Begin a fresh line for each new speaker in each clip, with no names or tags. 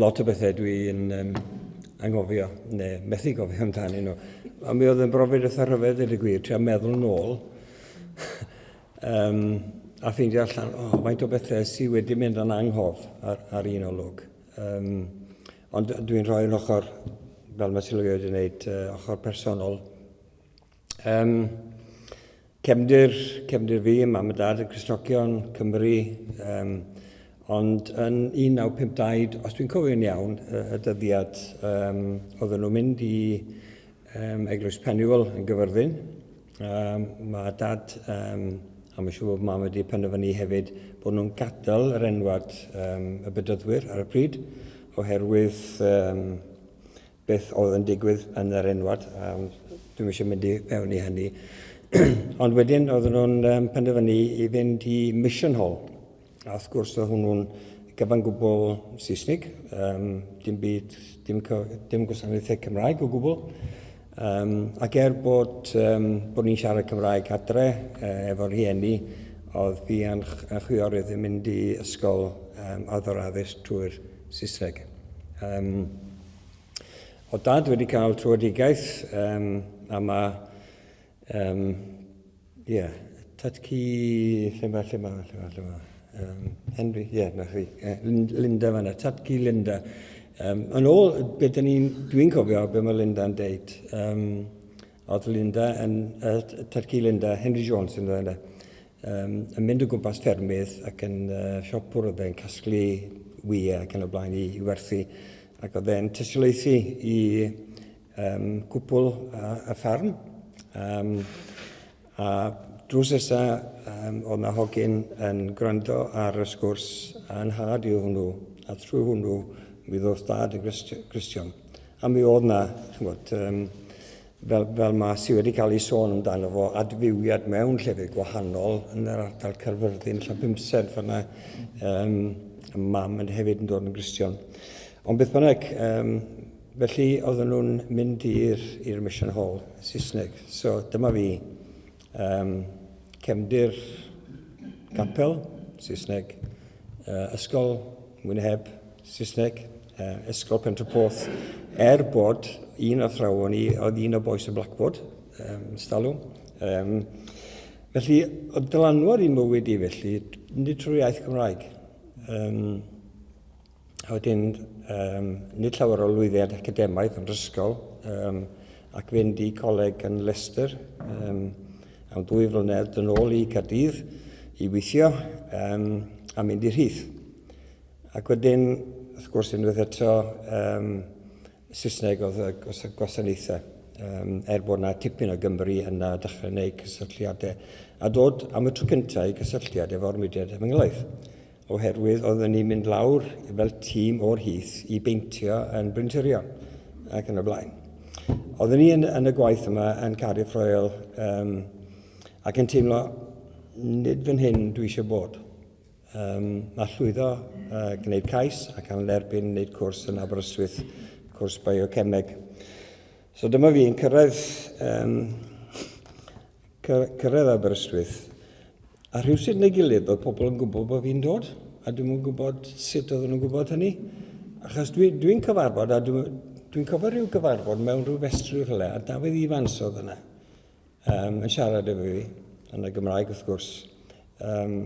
Lot o bethau dwi'n um, angofio, neu methu gofio amdani nhw. Ond mi oedd yn brofiad eitha rhyfedd, dweud y gwir, tra meddwl nôl. um, a ffeindio allan, o, oh, faint o bethau sydd wedi mynd yn anghof ar, ar un olwg. Um, ond dwi'n rhoi yn ochr, fel mae Silwio wedi gwneud, uh, ochr personol Um, cefndir, cefndir fi, mam a dad yn Cristnogion, Cymru, um, ond yn 1952, os dwi'n cofio'n iawn, y dyddiad um, oedden nhw'n mynd i um, Eglwys Pennywell yn gyfyrddin, um, mae dad um, a mae'n siŵr bod mam wedi penderfynu hefyd bod nhw'n gadael yr enwad um, y bydyddwyr ar y pryd, oherwydd um, beth oedd yn digwydd yn yr enwad, um, dwi'n eisiau mynd i mewn i hynny. Ond wedyn oedden nhw'n um, penderfynu i fynd i Mission Hall. A wrth gwrs oedd hwnnw'n gyfan gwbl Saesnig, um, dim byd, dim, dim gwasanaethau Cymraeg o gwbl. Um, ac er bod, um, bod ni'n siarad Cymraeg adre e, efo'r rhieni, oedd fi yn chwiorydd yn mynd i ysgol um, addoraddus trwy'r Saesneg. Um, O dad wedi cael trwedigaeth um, a mae... Um, yeah, tad ci... Lle mae, lle mae, lle mae, lle mae... Um, Henry, ie, yeah, na chi. Uh, Linda fanna, tad ci Linda. Um, yn ôl, be dyn ni'n... Dwi'n cofio be mae Linda'n deud. Um, oedd Linda yn... Uh, tad ci Linda, Henry Jones yn dweud yna. Yym, yn mynd o gwmpas ffermydd ac yn uh, siop oedd e'n casglu wyau ac yn y blaen i, i werthu. Ac oedd e'n tystiolaethu i um, cwpl a, a ffarm. Um, a drws esa um, oedd na hogyn yn gwrando ar y sgwrs a'n had i hwnnw. A trwy hwnnw mi ddoth dad yn Gristion. A mi oedd na, chymod, um, fel, fel mae sy wedi cael ei sôn amdano fo, adfywiad mewn llefydd gwahanol yn yr ardal Caerfyrddin, allan bymsedd fanna, um, y mam yn hefyd yn dod yn Gristion. Ond beth bynnag, um, felly oedden nhw'n mynd i'r Mission Hall, Saesneg. So dyma fi, um, cefndir capel, Saesneg, uh, ysgol Mwynheb, Saesneg, uh, ysgol Pentraporth, er bod un athrawon i, oedd un o boes y Blackboard, um, stalw. Um, felly, oedd dylanwad i mywyd i felly, nid trwy iaith Gymraeg. Um, A wedyn, um, nid llawer o lwyddiad academaidd yn rysgol, um, ac fynd i coleg yn Leicester um, am dwy flynedd yn ôl i Cardydd i weithio um, a mynd i rhith. Ac wedyn, wrth gwrs, unwaith eto, um, Saesneg oedd y gwasanaethau, um, er bod yna tipyn o Gymru yna dechrau gwneud cysylltiadau, a dod am y tro cyntaf i gysylltiad efo'r mudiad efengylaeth. oherwydd oedden ni'n mynd lawr fel tîm o'r hith i beintio yn Bryn Tyrion ac yn y blaen. Oedden ni yn, yn y gwaith yma yn Cardiff Royal um, ac yn teimlo nid fan hyn dwi eisiau bod. Um, mae llwyddo uh, gwneud cais ac am lerbyn wneud cwrs yn Aberystwyth, cwrs biocemeg. So dyma fi yn cyrraedd um, cyrraedd Aberystwyth, a rhywsut neu gilydd oedd pobl yn gwybod bod fi'n dod, a dwi'n yn gwybod sut oedden nhw'n gwybod hynny. Achos dwi'n dwi, dwi cyfarfod, a dwi'n dwi cofio rhyw gyfarfod mewn rhyw festri rhywle, a Dafydd Ifans oedd yna, um, yn siarad efo fi, yn y Gymraeg wrth gwrs. Um,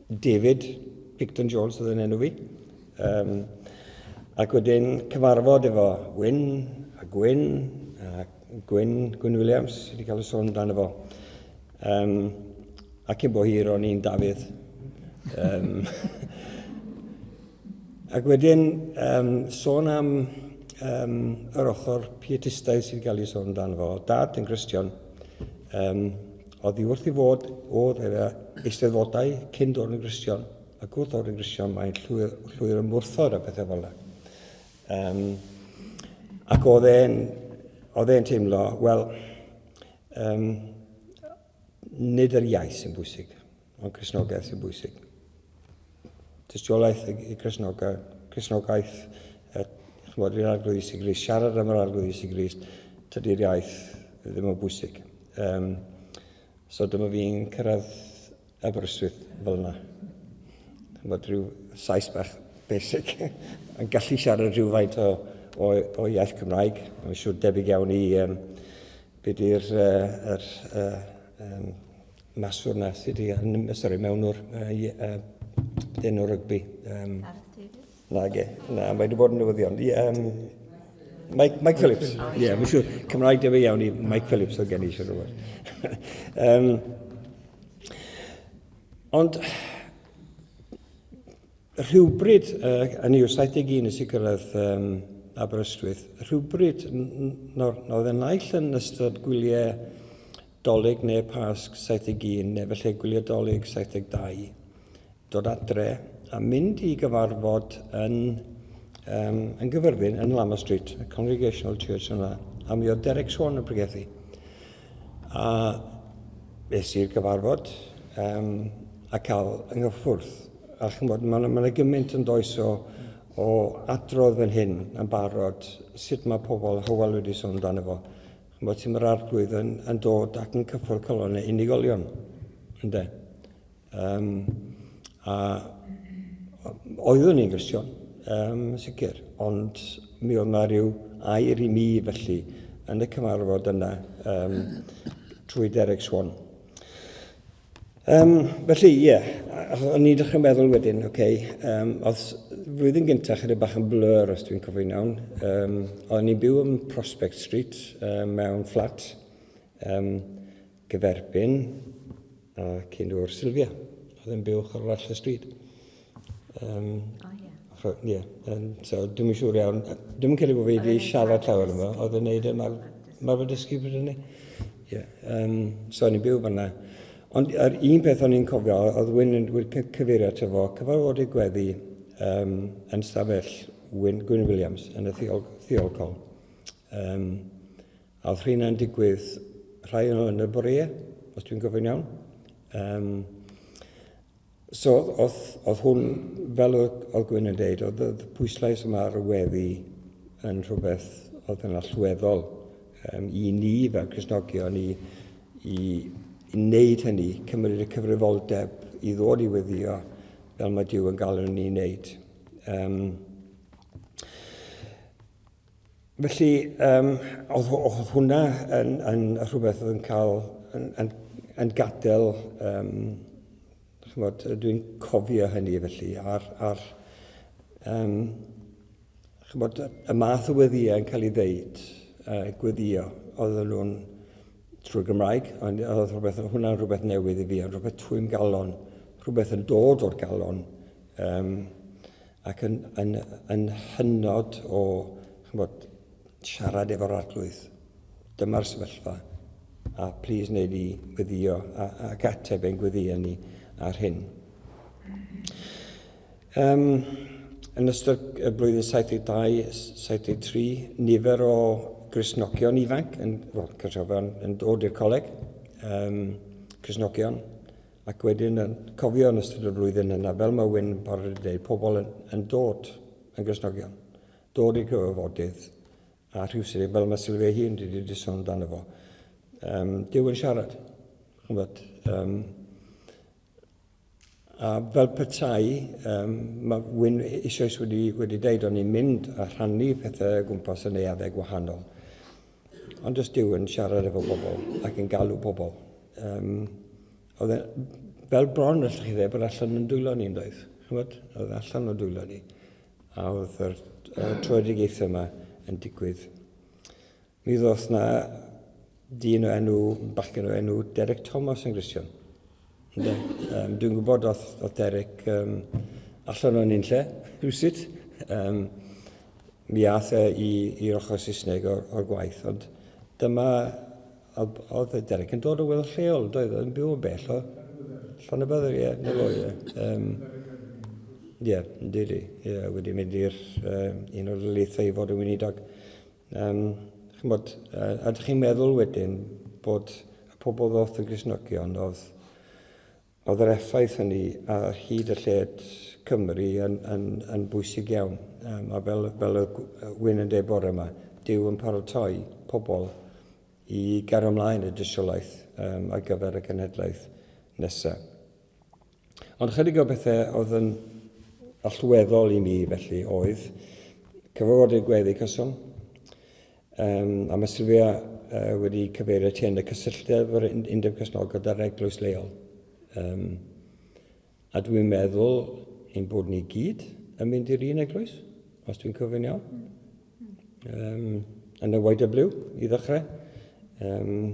David Picton Jones oedd yn enw fi. Um, ac wedyn cyfarfod efo Wyn a Gwyn, a Gwyn, Gwyn Williams, wedi cael y sôn amdano fo. Um, ac yn bo hir o'n i'n Dafydd. Um, Ac wedyn, um, sôn am um, yr ochr pietistaidd sy'n cael ei sôn dan fo. Dad yn Gristion, um, oedd i wrth i fod oedd yr eisteddfodau cyn dod yn Gristion, ac wrth o'r yn Gristion mae'n llwyr, llwyr ymwrthod a bethau fel yna. Um, ac oedd e'n oedd e'n teimlo, wel, um, nid yr iaith sy'n bwysig. Mae'n Cresnogaeth sy'n bwysig. Tystiolaeth i Cresnogaeth, Cresnogaeth er, chymod, i'r arglwydd Iesu Grist, siarad am yr arglwydd Iesu Grist, tydi'r iaith ddim yn bwysig. Um, so dyma fi'n cyrraedd Aberystwyth fel yna. Chymod, rhyw saes bach basic yn gallu siarad rhywfaint o, o, o iaith Cymraeg. Mae'n siŵr debyg iawn i um, beth i'r uh, er, uh, um, maswr na sydd wedi arnymddyg, sori, mewnwr, dyn o rygbi. Um, na, ge, na, mae wedi bod yn newyddion. Um, Mike, Mike Phillips, ie, yeah, siŵr, Cymraeg debyg iawn i Mike Phillips o gen i eisiau rhywbeth. um, ond, rhywbryd, uh, yn i'w 71 nes i gyrraedd um, Aberystwyth, rhywbryd, nawr, nawr oedd y naill yn ystod gwyliau Dolig neu Pasg 71 neu felly gwylio Dolig 72, dod adre a mynd i gyfarfod yn, um, yn gyfyrfyn yn Lama Street, y Congregational Church yna, a mi oedd Derek Swan yn pregethu. A es i'r gyfarfod um, a cael yng nghyffwrdd. A chymod, mae yna ma gymaint yn does o, o adrodd fan hyn yn barod, sut mae pobl Hywel wedi sôn amdano fo. Mae tîm yr Arglwydd yn, yn dod ac yn cyffwrdd calon neu unigolion, ynddo. Um, a oeddwn i'n Gristion, um, sicr, ond mi oedd yna rhyw air i mi felly yn y cyfarfod yna um, trwy Derek Swan. Um, felly, ie, yeah. o'n i'n dechrau meddwl wedyn, oce, okay, um, oedd flwyddyn gyntaf chyda bach yn blur os dwi'n cofio'n iawn. Um, o'n i'n byw yn Prospect Street um, mewn fflat um, gyferbyn a cyn o'r Sylvia. Oedd yn byw chorwall y stryd. Um, oh, yeah. Ie, yeah. um, so dwi'n mynd siŵr iawn. Dwi'n mynd credu bod fi wedi siarad llawer yma, oedd yn neud y e mar, mar fod ysgu bryd hynny. Ie, um, so ni'n byw fanna. Ond yr un peth o'n i'n cofio, oedd Wyn yn cyfeirio ato fo, cyfarfodydd gweddi um, yn stafell Wyn, Gwyn Williams yn y thiol, thiolcol. Um, a oedd rhywun digwydd rhai o'n y bore, os dwi'n gofyn iawn. Um, So, oedd hwn, fel oedd Gwyn yn dweud, oedd y pwyslais yma ar y weddi yn rhywbeth oedd yn allweddol um, i ni fel Cresnogion i, i, i wneud hynny, cymryd y cyfrifoldeb i ddod i weddio fel mae Dyw yn galw ni wneud. Um, Felly, um, oedd, oedd hwnna yn, yn rhywbeth oedd yn cael, yn, yn, yn gadael, um, chymod, dwi'n cofio hynny felly, a'r, ar um, chymod, y math o weddiau yn cael ei ddeud, uh, gweddio, oedd nhw'n trwy Gymraeg, ond oedd rhywbeth, hwnna'n rhywbeth newydd i fi, ond rhywbeth trwy'n galon, rhywbeth yn dod o'r galon, um, ac yn, yn, yn hynod o, chymod, siarad efo'r arglwydd. Dyma'r sefyllfa. A plis wneud i gweddio a, a gateb ein gweddio ni ar hyn. Um, yn ystod y blwyddyn 72-73, nifer o grisnogion ifanc yn, well, yn, yn dod i'r coleg, um, crisnogion, Ac wedyn yn cofio yn ystod y flwyddyn yna, fel mae Wyn yn parod i ddeud, pobl yn, yn dod yn Gristnogion, dod i gyfarfodydd, a rhywsut, fel mae Sylwia ei hun wedi di sôn amdano fo, um, Dyw yn siarad. Chymod, um, a fel petai, um, mae Wyn eisoes wedi, wedi deud, o'n i'n mynd a rhannu pethau gwmpas yn neuaddau gwahanol. Ond os dyw yn siarad efo bobl ac yn galw pobl, um, oedd e, fel bron allwch chi dde bod allan yn dwylo ni yn doedd. Chymod, oedd e allan o dwylo ni. A oedd yr uh, troedigaethau yma yn digwydd. Mi ddoth na dyn o enw, bachgen o enw Derek Thomas yn Gristion. Ynde. Um, dwi'n gwybod oedd, oedd Derek um, allan o'n un lle, rhywsut. Um, mi ath e i, i'r ochr Saesneg o'r, or gwaith, ond dyma, oedd Derek yn dod o weld lleol, doedd yn byw yn bell o Llan y Byddr, ie, na fo, ie. Um, ie, yn diri, ie, wedi mynd i'r um, un o'r leithau i fod yn weinidog. Yym, chymod, a dych chi'n meddwl wedyn bod y pobl ddoth yn Gristnogion oedd oedd yr effaith hynny ar hyd y lled Cymru yn, yn, yn bwysig iawn. Um, a fel, fel y Wyn yn dweud bore yma, Dyw yn paratoi pobl i gario ymlaen y dystiolaeth um, ar gyfer y cenhedlaeth nesaf. Ond chydig o bethau oedd yn allweddol i mi felly oedd cyfarfodydd gweddi cyson, um, a mae Sylwia uh, wedi cyfeirio ti yn y cysylltedd o'r undeb cysnol gyda'r eglwys leol. Um, a dwi'n meddwl ein bod ni gyd yn mynd i'r un eglwys, os dwi'n cofio'n iawn. Um, yn y YW, i ddechrau. Um,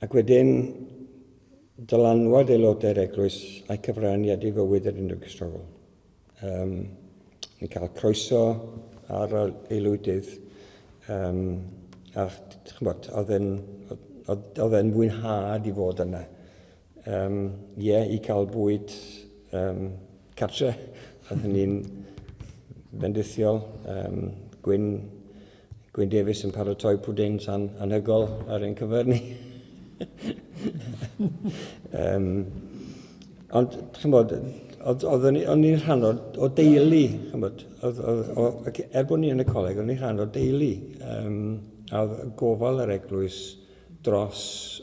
ac wedyn, dylanwad aelodau'r eglwys a'i cyfraniad i fywyd yr Undeb Cristnogol. Um, ni'n cael croeso ar aelwydydd um, a chymod, oedd e'n oedd e'n fwynhad i fod yna. Um, ie, yeah, i cael bwyd um, cartre, oedd hynny'n bendithiol, um, gwyn Gwyn Davies yn paratoi pwdin tan anhygol ar ein cyfer ni. um, ond, chi'n bod, oeddwn i'n rhan o, o deulu, chi'n bod, er bod ni yn y coleg, oeddwn i'n rhan o deulu. Um, a oedd gofal yr eglwys dros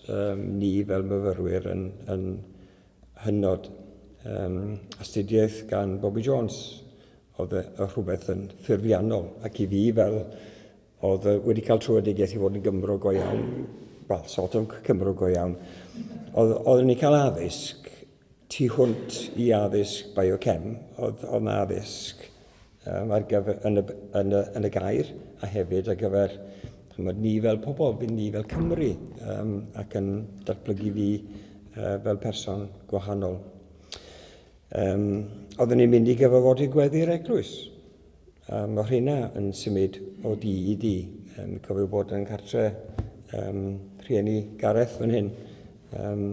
um, ni fel myfyrwyr yn, yn hynod. Um, astudiaeth gan Bobby Jones, Oedd y rhywbeth yn ffurfiannol, ac i fi fel oedd wedi cael trwyedigaeth i fod yn Gymro go iawn, wel, sort of Cymro go iawn, oedd, oeddwn i'n cael addysg tu hwnt i addysg biochem, oedd, oedd yna addysg um, ar gyfer, yn, y, yn, y, yn y gair, a hefyd ar gyfer chymod, ni fel pobl, bydd ni fel Cymru, um, ac yn datblygu fi uh, fel person gwahanol. Um, oeddwn ni'n mynd i gyfarfod i gweddi'r eglwys. Um, mae rhina yn symud o di i di. Um, cofio bod yn cartre um, rhieni Gareth fan hyn. Um,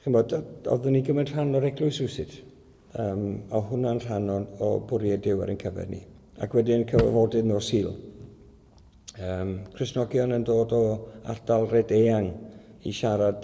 chymod, oeddwn ni'n gymryd rhan o'r eglwys rhywsut. Um, a hwnna'n rhan o'n, o bwriad Dyw ar ein cyfer ni. Ac wedyn cyfarfodydd nos Sul. Um, Cresnogion yn dod o ardal red eang i siarad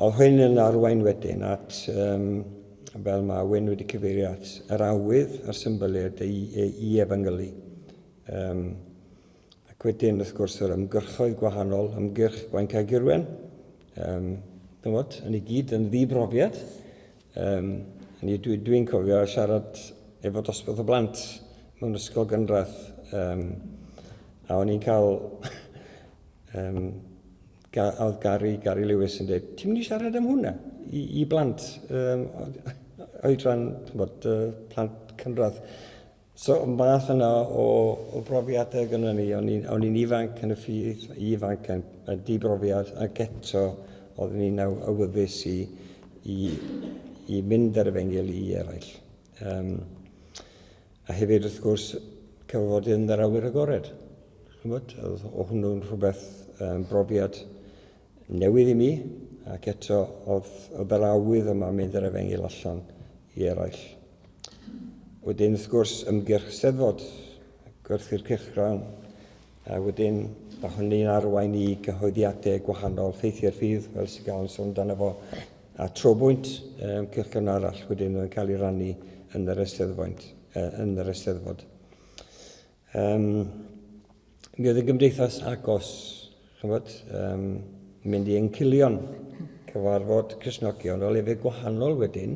Oedd hyn yn arwain wedyn at, um, fel mae Wyn wedi cyfeirio at, yr awydd a'r symboliad i, i efengylu. Um, ac wedyn, wrth gwrs, yr ymgyrchoedd gwahanol, ymgyrch Gwaen Caegirwen, um, dymod, yn ei gyd yn ddibrofiad. Um, Dwi'n dwi, dwi cofio siarad efo dosbarth o blant mewn ysgol gynradd, um, a o'n i'n cael um, Ga, oedd Gary, Gary Lewis yn dweud, ti'n mynd i siarad am hwnna i, i blant um, oedran, bod, uh, plant cynradd. So, math yna o, o brofiadau gyda ni, o'n i'n ifanc yn y ffydd, ifanc yn, yn dibrofiad, ac eto oeddwn i'n awyddus i, i, i mynd ar y fengil i eraill. Um, A hefyd, wrth gwrs, cael fod yn yr awyr agored. Chymod, o hwnnw'n rhywbeth um, brofiad newydd i mi, ac eto, oedd, oedd yr awydd yma mynd yr efengil allan i eraill. Wedyn, wrth gwrs, ymgyrch steddfod, gwerthu'r cyrchgrawn, a wedyn mae hynny'n arwain i gyhoeddiadau gwahanol, ffeithiau'r ffydd, fel sy'n cael yn sôn dan efo, a trobwynt ymgyrchon arall wedyn yn cael ei rannu yn yr eisteddfoint, yn yr eisteddfod. Um, mi oedd y gymdeithas agos, chymod, um, mynd i encilion, cyfarfod Cresnogion o lefydd gwahanol wedyn,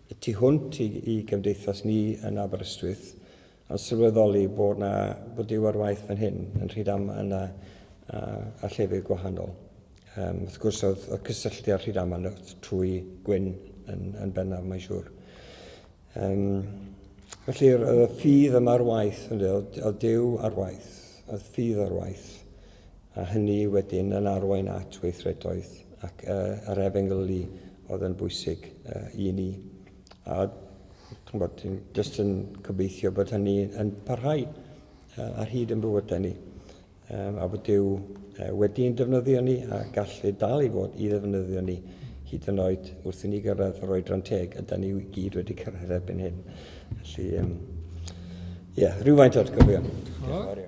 y tu hwnt i, i gymdeithas ni yn Aberystwyth, a sylweddoli bod yna bod Duw ar waith fan hyn yn Rhyd Am yna a, a llefydd gwahanol. Um, wrth gwrs oedd, oedd cysylltu â'r Rhyd Aman trwy Gwyn yn, yn bennaf, mae'n siŵr. Um, felly oedd y ffydd yma ar waith, oedd, oedd Duw ar waith, oedd ffydd ar waith, a hynny wedyn yn arwain at weithredoedd ac uh, yr efengylu oedd yn bwysig uh, i ni. A bod, jyst yn gobeithio bod hynny yn parhau ar hyd yn bywydau ni. A bod Dyw wedi'n defnyddio ni a gallu dal i fod i ddefnyddio ni hyd yn oed wrth i ni gyrraedd yr oedran teg a da ni i gyd wedi cyrraedd erbyn hyn. Felly, ie, um, yeah, rhywfaint o atgofion. Diolch